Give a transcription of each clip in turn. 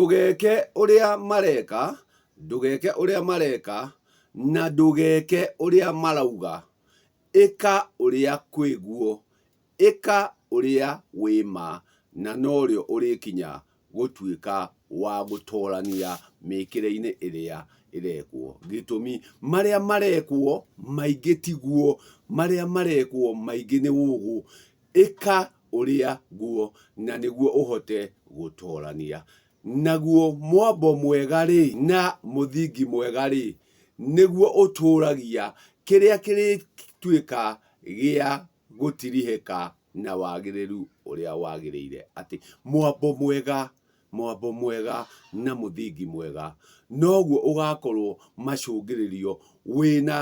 Ndũgeeke ũrĩa mareeka, ndũgeeke ũrĩa mareeka, na ndũgeeke ũrĩa marauga, ĩka ũrĩa kwĩ guo, ĩka ũrĩa wĩ ma, na norĩo ũrĩkinya gũtuĩka wa gũtoorania mĩĩkĩre-inĩ ĩrĩa ĩreekwo. Gĩtũmi, marĩa mareekwo maingĩ ti guo, marĩa mareekwo maingĩ nĩ ũũgũ. Ĩka ũrĩa nguo, na nĩguo ũhote gũtoorania. Naguo mwambo mwega-rĩ, na mũthingi mwega-rĩ, nĩguo ũtũũragia kĩrĩa kĩrĩtuĩka gĩa gũtirihĩka na wagĩrĩru ũrĩa wagĩrĩire. Atĩ mwambo mwega, mwambo mwega na mũthingi mwega, noguo ũgaakorwo macũngĩrĩrio wĩ na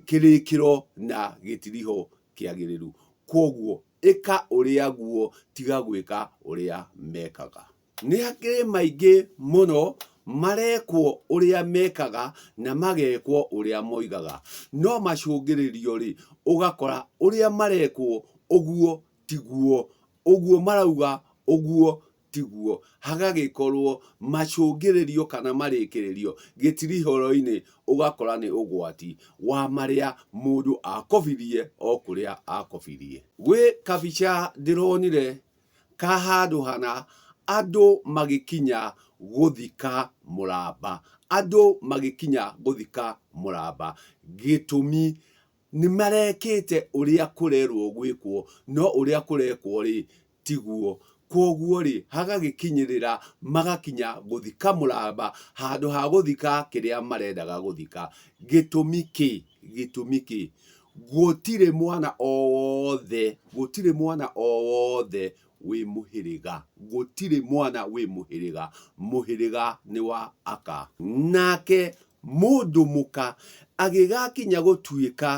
kĩrĩkĩro na gĩtiriho kĩagĩrĩru. Kwoguo ĩka ũrĩa guo, tiga gwĩka ũrĩa mekaga. Nĩ hakĩrĩ maingĩ mũno marekwo ũrĩa mekaga na magekwo ũrĩa moigaga. No macũngĩrĩrio-rĩ, ũgakora ũrĩa marekwo ũguo tiguo, ũguo marauga ũguo tiguo, hagagĩkorwo macũngĩrĩrio kana marĩkĩrĩrio gĩtirihoroinĩ ũgakora nĩ ũgwati wa marĩa mũndũ akobithie o kũrĩa akobithie. Gwĩ kabica ndĩronire ka handũ hana andũ magĩkinya gũthika mũramba, andũ magĩkinya gũthika mũramba gĩtũmi Nĩ marekĩte ũrĩa kũrerwo gwĩkwo, no ũrĩa kũrekwo-rĩ, tiguo. Kwoguo-rĩ, hagagĩkinyĩrĩra magakinya gũthika mũramba handũ ha gũthika kĩrĩa marendaga gũthika. Gĩtũmi kĩ? Gĩtũmi kĩ? Gũtirĩ mwana o wothe, gũtirĩ mwana o wothe wĩ mũhĩrĩga. Gũtirĩ mwana wĩ mũhĩrĩga. Mũhĩrĩga nĩ wa Aka. Nake Mũndũ mũka agĩgakinya gũtuĩka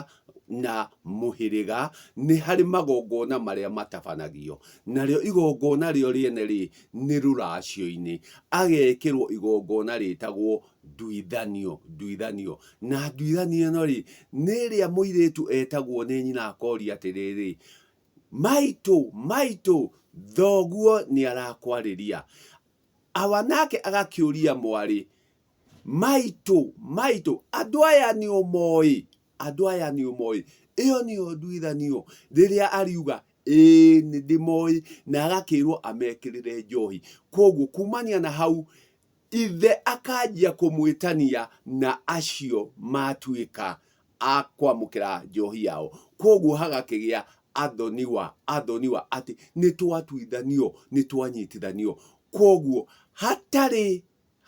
na mũhĩrĩga nĩ harĩ magongona marĩa matabanagio, narĩo igongona rĩo rĩene-rĩ, nĩ rũracio-inĩ, agekĩrwo igongona rĩtagwo nduithanio, nduithanio. Na nduithanio ĩno-rĩ, nĩ ĩrĩa mũirĩtu etagwo nĩ nyina akoria atĩrĩrĩ, Maitũ, maitũ, thoguo nĩ arakwarĩria. Awa nake agakĩũria mwarĩ. maitũ maitũ andũ aya nĩ ũmoĩ andũ aya nĩ ũmoĩ ĩyo nĩyo nduithanio rĩrĩa ariuga ĩĩ nĩ ndĩmoĩ na agakĩrwo amekĩrĩre njohi kwoguo kumania na hau ithe akanjia kũmwĩtania na acio matuĩka a kwamũkĩra njohi yao kwoguo hagakĩgĩa athoniwa athoniwa atĩ nĩ twatuithanio nĩ twanyitithanio kwoguo hatarĩ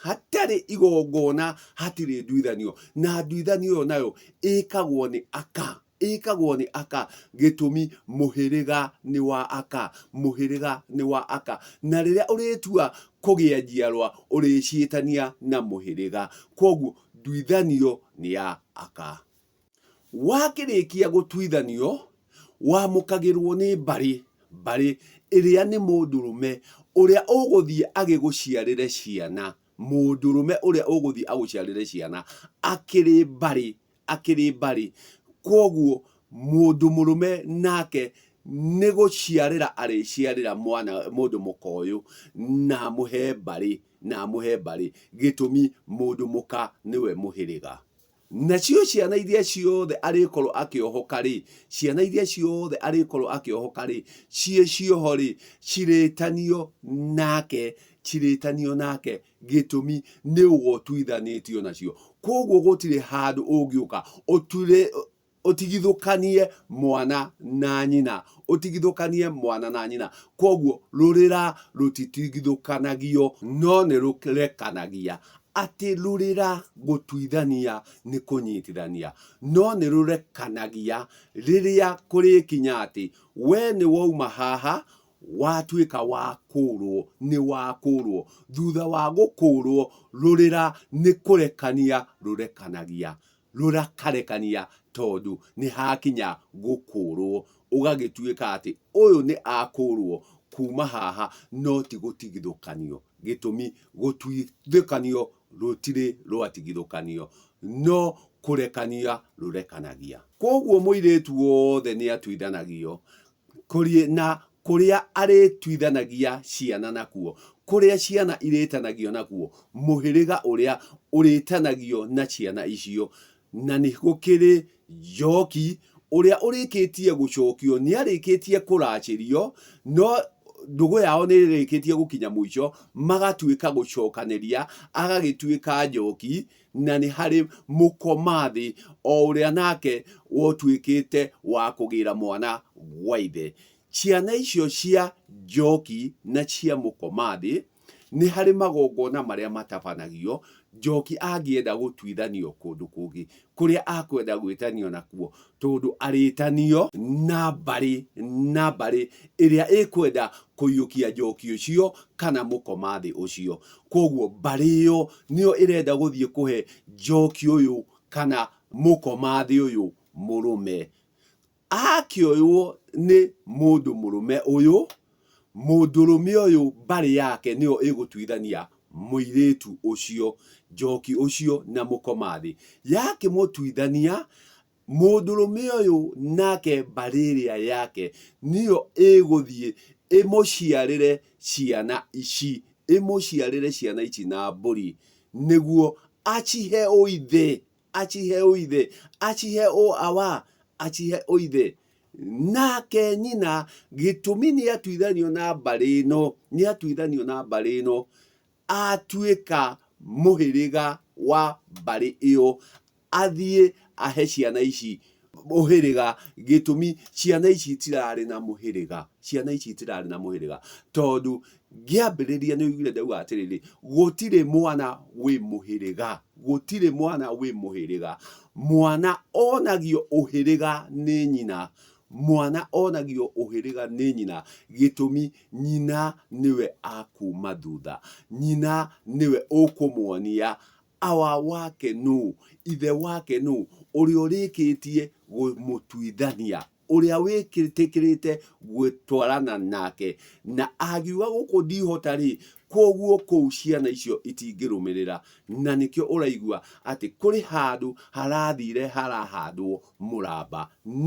hatarĩ igongona hatirĩ nduithanio na nduithanio ĩyo nayo ĩkagwo nĩ aka ĩkagwo nĩ aka gĩtũmi mũhĩrĩga nĩ wa aka mũhĩrĩga nĩ wa aka na rĩrĩa ũrĩtua kũgĩa njiarwa ũrĩciĩtania na mũhĩrĩga kwoguo nduithanio nĩ ya aka Wakĩrĩkia gũtuithanio, wamũkagĩrũo nĩ mbarĩ, mbarĩ, ĩrĩa nĩ mũndũrũme ũrĩa ũgũthiĩ agĩgũciarĩre ciana, mũndũrũme ũrĩa ũgũthiĩ agũciarĩre ciana, akĩrĩ mbarĩ, akĩrĩ mbarĩ. Kwoguo mũndũ mũrũme nake nĩ gũciarĩra arĩciarĩra mwana mũndũ mũka ũyũ, na amũhe mbarĩ, na amũhe mbarĩ, gĩtũmi mũndũ mũka nĩwe mũhĩrĩga. Nacio ciana iria ciothe arĩkorwo akĩohoka-rĩ, ciana iria ciothe arĩkorwo akĩohoka-rĩ, ciĩ cioho-rĩ, cirĩtanio nake, cirĩtanio nake, gĩtũmi nĩ ũgo ũtuithanĩtio nacio. Kwoguo gũtirĩ handũ ũngĩũka ũtuĩre, ũtigithũkanie mwana na nyina ũtigithũkanie mwana na nyina kwoguo rũrĩra rũtitigithũkanagio no nĩ rũrekanagia atĩ rũrĩra gũtuithania nĩ kũnyitithania no nĩ rũrekanagia rĩrĩa kũrĩkinya atĩ we nĩ wauma haha watuĩka wa kũrwo nĩ wa kũrwo thutha wa gũkũrwo rũrĩra nĩ kũrekania rũrekanagia rũrakarekania tondũ nĩ hakinya gũkũũrũo, ũgagĩtuĩka atĩ ũyũ nĩ akũũrũo kuuma haha no ti gũtigithũkanio. Gĩtũmi, gũtigithũkanio rũtirĩ rwatigithũkanio, no kũrekania rũrekanagia. Kwoguo mũirĩtu wothe nĩ atuithanagio Kũriĩ na kũrĩa arĩtuithanagia ciana nakuo, kũrĩa ciana irĩtanagio nakuo, mũhĩrĩga ũrĩa ũrĩtanagio na ciana icio. Na nĩ gũkĩrĩ njooki, ũrĩa ũrĩkĩtie gũcookio nĩ arĩkĩtie kũraacĩrio, no ndũgũ yao nĩ ĩrĩkĩtie gũkinya mũico, magatuĩka gũcookanĩria, agagĩtuĩka njooki. na nĩ harĩ mũkomathĩ o ũrĩa nake wotuĩkĩte wa kũgĩra mwana gwa ithe. Ciana icio cia njooki na cia mũkomathĩ, nĩ harĩ magongona marĩa matabanagio, njooki angĩenda gũtuithanio kũndũ kũngĩ, kũrĩa akwenda gwĩtanio nakuo, Tondũ arĩtanio na mbarĩ na mbarĩ ĩrĩa ĩkwenda kũiyũkia njoki ũcio kana mũkomathĩ ũcio. Kwoguo mbarĩ ĩyo nĩyo ĩrenda gũthiĩ kũhe njoki ũyũ kana mũkomathĩ ũyũ mũrũme. Akĩoywo nĩ mũndũ mũrũme ũyũ, Mũndũrũme ũyũ mbarĩ yake nĩyo ĩgũtuithania mũirĩtu ũcio, njoki ũcio na mũkomathi. Yakĩmũtuithania, mũndũrũme ũyũ nake mbarĩ ĩrĩa yake nĩyo ĩgũthiĩ ĩmũciarĩre ciana ici, ĩmũciarĩre ciana ici na mbũri, nĩguo acihe ũithe. acihe ũithe acihe o awa acihe ũithe nake nyina gĩtũmi nĩ atuithanio na mbarĩ ĩno nĩ atuithanio na mbarĩ ĩno atuĩka mũhĩrĩga wa mbarĩ ĩyo athiĩ ahe ciana ici mũhĩrĩga gĩtũmi ciana ici itirarĩ na mũhĩrĩga ciana ici itirarĩ na mũhĩrĩga tondũ ngĩambĩrĩria nĩ ũiguire ndauga atĩrĩrĩ gũtirĩ mwana wĩ mũhĩrĩga gũtirĩ mwana wĩ mũhĩrĩga mwana onagio ũhĩrĩga nĩ nyina mwana onagio ũhĩrĩga nĩ nyina gĩtũmi nyina nĩwe akuma thutha nyina nĩwe ũkũmuonia Awa wake nũũ? Ithe wake nũũ? Ũrĩa ũrĩkĩtie kũmũtuithania, ũrĩa wĩtĩkĩrĩte gũtwarana nake. Na angiuga, Gũkũ ndihota-rĩ, kwoguo kũu ciana icio itingĩrũmĩrĩra. Na nĩkĩo ũraigua atĩ kũrĩ handũ harathire harahandwo mũramba.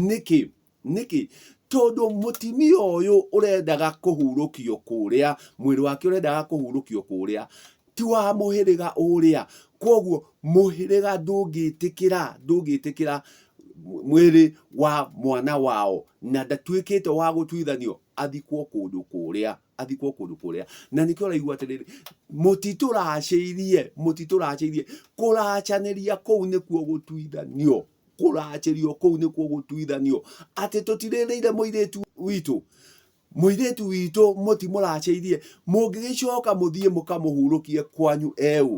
Nĩkĩ? Nĩkĩ? Tondũ mũtimia ũyũ ũrendaga kũhurũkio kũrĩa, mwĩrĩ wake ũrendaga kũhurũkio kũrĩa, ti wa mũhĩrĩga ũrĩa. Kwoguo mũhĩrĩga ndũngĩtĩkĩra, ndũngĩtĩkĩra mwĩrĩ wa mwana wao, na ndatuĩkĩte wa gũtuithanio athikwo kũndũ kũrĩa, athikwo kũndũ kũrĩa. Na nĩkĩo ũraigua atĩrĩrĩ, mũtitũracĩirie, mũtitũracĩirie, kũracanĩria kũu nĩkuo gũtuithanio. kũracĩrio kũu nĩkuo gũtuithanio atĩ tũtirĩrĩire mũirĩtu witũ mũirĩtu witũ mũtimũracĩirie mũngĩgĩcoka mũthiĩ mũkamũhurũkie kwanyu eũ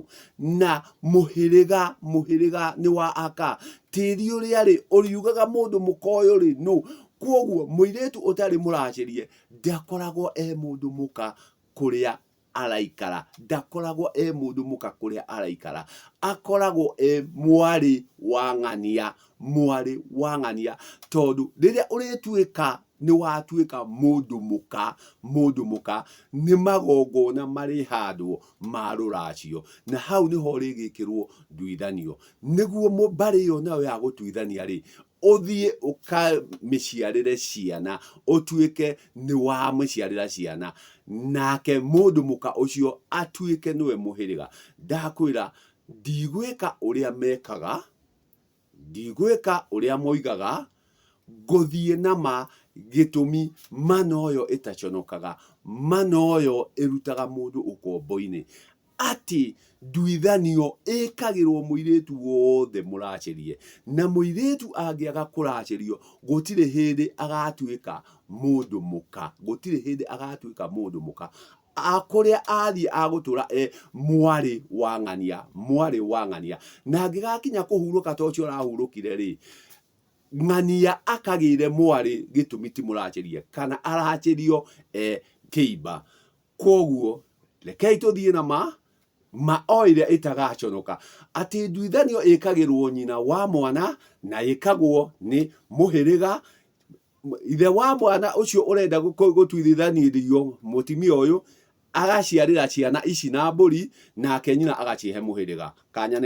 na mũhĩrĩga mũhĩrĩga nĩ wa aka tĩri ũrĩa rĩ ũriugaga mũndũ mũkoyũ rĩ nũ kwoguo mũirĩtu ũtarĩ mũracĩrie ndakoragwo e mũndũ mũka kũrĩa araikara ndakoragwo e mũndũ mũka kũrĩa araikara, akoragwo e mwarĩ wa ng'ania, mwarĩ wa ng'ania, tondũ rĩrĩa ũrĩtuĩka nĩ watuĩka mũndũ mũka, mũndũ mũka, nĩ magongona marĩhandwo ma rũracio, na hau nĩho ũrĩgĩkĩrwo nduithanio, nĩguo mbarĩ ĩyo nayo ya gũtuithania-rĩ, ũthiĩ ũkamĩciarĩre ciana ũtuĩke nĩ wamĩciarĩra ciana nake mũndũ mũka ũcio atuĩke nĩwe mũhĩrĩga ndakwĩra ndigwĩka ũrĩa mekaga ndigwĩka ũrĩa moigaga ngũthiĩ na ma gĩtũmi mana ũyũ ĩtaconokaga mana ũyũ ĩrutaga mũndũ ũkombo-inĩ atĩ nduithanio ĩkagĩrwo mũirĩtu wothe mũracĩrie, na mũirĩtu angĩaga kũracĩrio gũtirĩ hĩndĩ agatuĩka mũndũ mũka, gũtirĩ hĩndĩ agatuĩka mũndũ mũka, kũrĩa athiĩ agũtũra e mwarĩ wa ng'ania, mwarĩ wa ng'ania, na angĩgakinya kũhurũka ta ũcio ũrahurũkire rĩ, ng'ania akagĩre mwarĩ gĩtũmi ti mũracĩrie, kana aracĩrio e kĩimba. Kwoguo rekei tũthiĩ na ma, ma o ĩrĩa ĩtagaconoka, atĩ nduithanio ĩkagĩrwo nyina wa mwana na ĩkagwo nĩ mũhĩrĩga, ithe wa mwana ũcio ũrenda gũtuithanĩrio mũtimia ũyũ agaciarĩra ciana ici na mbũri, nake nyina agacihe mũhĩrĩga. Kanya nĩ.